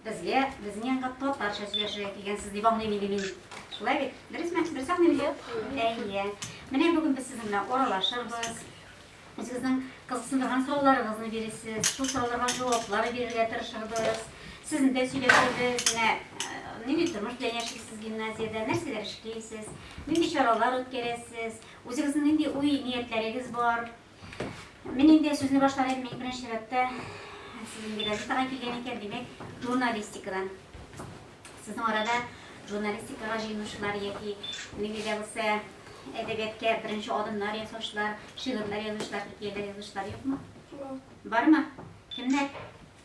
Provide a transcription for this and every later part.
Безгә, безнең янга татарча сөйләшергә килгәнсез дип аңлыйм инде мин. Шулай бит? Дөресме? Дөрес аңлыйм бит? Әйе. Менә бүген без сезнең белән аралашырбыз. Үзегезнең кызыксындырган сорауларыгызны бирерсез, шул сорауларга җаваплар бирергә тырышырбыз. Сезне дә сөйләшербез. Менә нинди тормыш белән яшисез сез гимназиядә, нәрсәләр эшлисез, нинди чаралар үткәрәсез, үзегезнең нинди уй-ниятләрегез бар? Мин инде сүзне башларым, мин беренче чиратта сезнең инде газетага килгән икән, димәк, журналистикадан. Сезнең арада журналистикага җыенучылар яки нинди дә булса әдәбиятка беренче адымнар ясаучылар, шигырьләр язучылар, хикәяләр язучылар юкмы? Бармы? Кемнәр?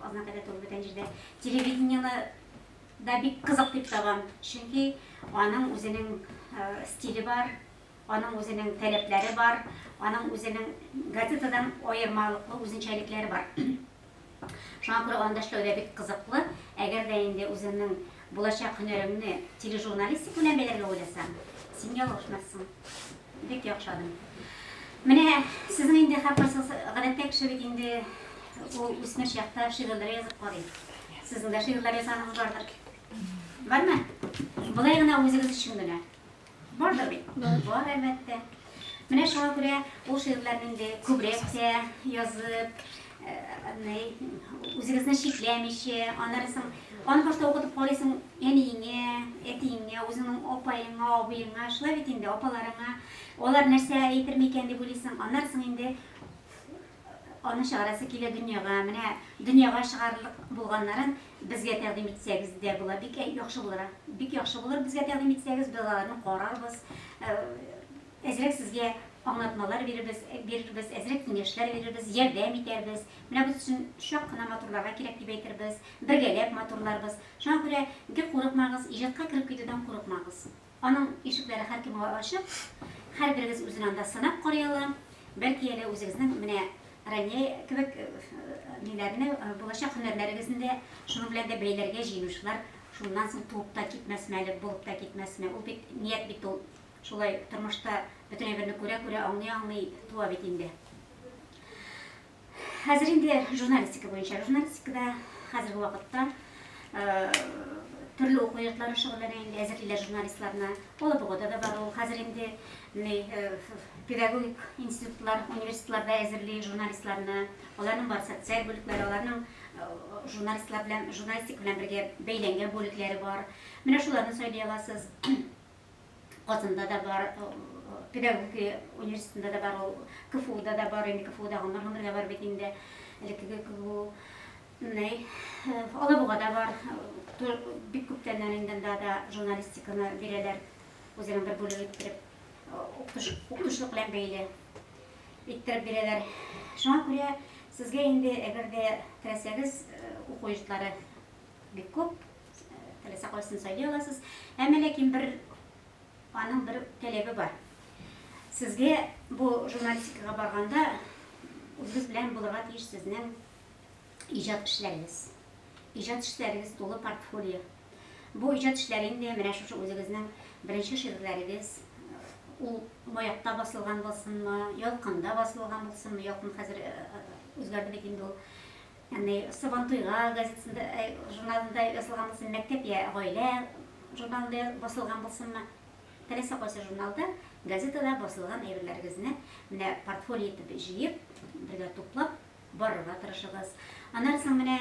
Азна кадәр тулып беткән җирдә телевидениены да бик кызык дип табам, чөнки аның үзенең стиле бар, аның үзенең таләпләре бар, аның үзенең газетадан аермалыклы үзенчәлекләре бар. Шуңа күрә анда эшләү дә бик кызыклы. Әгәр дә инде үзеңнең Булачак һөнәреңне тележурналистика белән бәйләргә уйласаң, син ялгышмассың. Бик яхшы адым. Менә сезнең инде хәпәрсез гадәттә кеше бит инде ул үсмер чакта шигырьләр язып карый. Сезнең дә шигырьләр язганыгыз бардыр. Бармы? Болай гына үзегез өчен генә. Бардыр бит? Бар, әлбәттә. Менә шуңа күрә ул шигырьләрне инде күбрәк тә язып, үзегезне чикләмичә, аннан соң аны башта укытып карыйсың әниеңә, әтиеңә, үзеңнең апаеңа, абыеңа, шулай бит инде апаларыңа. Алар нәрсә әйтер микән дип уйлыйсың. Аннан соң инде Аның чыгарасы килә дөньяга, менә дөньяга чыгарырлык булганнарын безгә тәкъдим итсәгез дә була, бик яхшы булыр. Бик яхшы булыр безгә тәкъдим итсәгез, без аларны карарбыз, әзрәк сезгә аңлатмалар бирербез, бирербез, әзрәк киңәшләр бирербез, ярдәм итәрбез. Менә без өчен чак кына матурларга кирәк дип әйтербез, бергәләп матурларбыз. Шуңа күрә бик курыкмагыз, иҗатка кереп китүдән курыкмагыз. Аның ишекләре һәркемгә ачык, һәрберегез үзен анда сынап карый ала. Бәлки әле үзегезнең менә Рания кебек ниләрне, булачак һөнәрләрегезне дә шуның белән дә бәйләргә җыенучылар шуннан соң туып та китмәсме әле, булып та китмәсме? Ул бит ният бит ул. Шулай тормышта бөтен әйберне күрә-күрә, аңлый-аңлый туа бит инде. Хәзер инде журналистика буенча, журналистикада хәзерге вакытта төрле уку йортлары шөгыльләнә инде, әзерлиләр журналистларны. Алабугада да бар ул. Хәзер инде педагогик институтлар, университетларда әзерли журналистларны. Аларның бар социаль бүлекләре, аларның журналистлар белән, журналистик белән бергә бәйләнгән бүлекләре бар. Менә шуларны сайлый аласыз. Казанда да бар, педагогия университетында да бар ул, КФУда да бар, инде КФУда гомер-гомергә бар бит инде, элеккеге КФУ. Менә Алабугада бар, бик күптәннән инде анда да журналистиканы бирәләр, үзенең бер бүлеге иттереп, укытучылык белән бәйле иттереп бирәләр. Шуңа күрә сезгә инде, әгәр дә теләсәгез, уку йортлары бик күп, теләсә кайсын сайлый аласыз. Әмма ләкин бер аның бер таләбе бар. Сезгә бу журналистикага барганда үзегез белән булырга тиеш сезнең иҗат эшләрегез. Иҗат эшләрегез тулы портфолио. Бу иҗат эшләре инде менә шушы үзегезнең беренче шигырьләрегез, ул маякта басылган булсынмы, ялкында басылган булсынмы, ялкын хәзер э, э, үзгәрде бит инде ул. Ягъни Сабантуйга газетасында, журналында язылган булсын, Мәктәп йә Гаилә журналында басылган булсынмы, теләсә кайсы журналда, газетада басылган әйберләрегезне менә портфолио итеп җыеп, бергә туплап барырга тырышыгыз. Аннан соң менә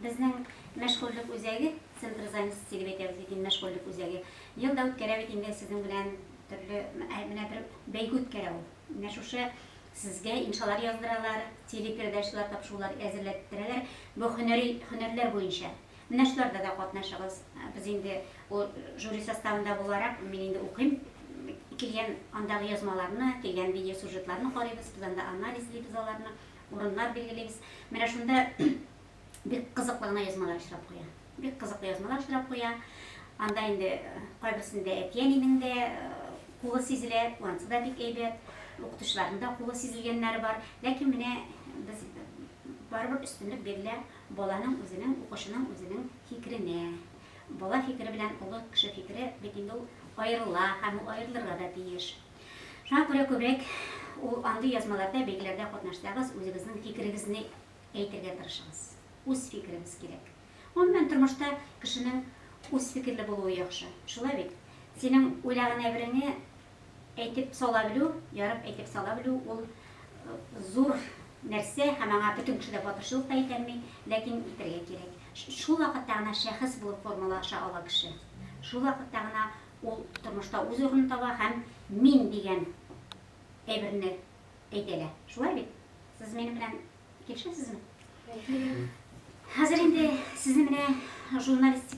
безнең мәшгульлек үзәге, центр занятости дип әйтәбез бит инде, мәшгульлек үзәге, ел да үткәрә бит инде сезнең белән төрле, менә бер бәйге үткәрә ул. Менә шушы Сезгә иншалар яздыралар, телепередачалар, тапшырулар әзерләтеп бирәләр. Бу һөнәри һөнәрләр буенча. Менә шуларда да катнашыгыз. Без инде ул жюри составында буларак, мин инде укыйм, килгән андагы язмаларны, килгән видеосюжетларны карыйбыз, без анда анализлыйбыз аларны, урыннар билгелибез. Менә шунда Бик кызыклы гына язмалар очрап куя. Бик кызыклы язмалар очрап куя. Анда инде кайберсендә әти-әнинең дә кулы сизелә, анысы да бик әйбәт. Укытучыларның да кулы сизелгәннәре бар. Ләкин менә без барыбер өстенлек бирелә баланың үзенең, укучының үзенең фикеренә. Бала фикере белән олы кеше фикере бит инде ул аерыла һәм ул аерылырга да тиеш. Шуңа күрә күбрәк ул андый язмаларда, бәйгеләрдә катнашсагыз, үзегезнең фикерегезне Әйтергә тырышыгыз. Үз фикерегез кирәк. Гомумән, тормышта кешенең үз фикерле булуы яхшы. Шулай бит? Синең уйлаган әйбереңне әйтеп сала белү, ярып әйтеп сала белү, ул зур нәрсә һәм аңа бөтен кеше дә батырчылык та итәлми, ләкин итәргә кирәк. Шул вакытта гына шәхес булып формалаша ала кеше. Шул вакытта гына ул тормышта үз урынын таба һәм мин дигән әйберне әйтә дә. Шулай бит? Сез минем белән килешәсезме? Хәзер инде сезне менә журналистик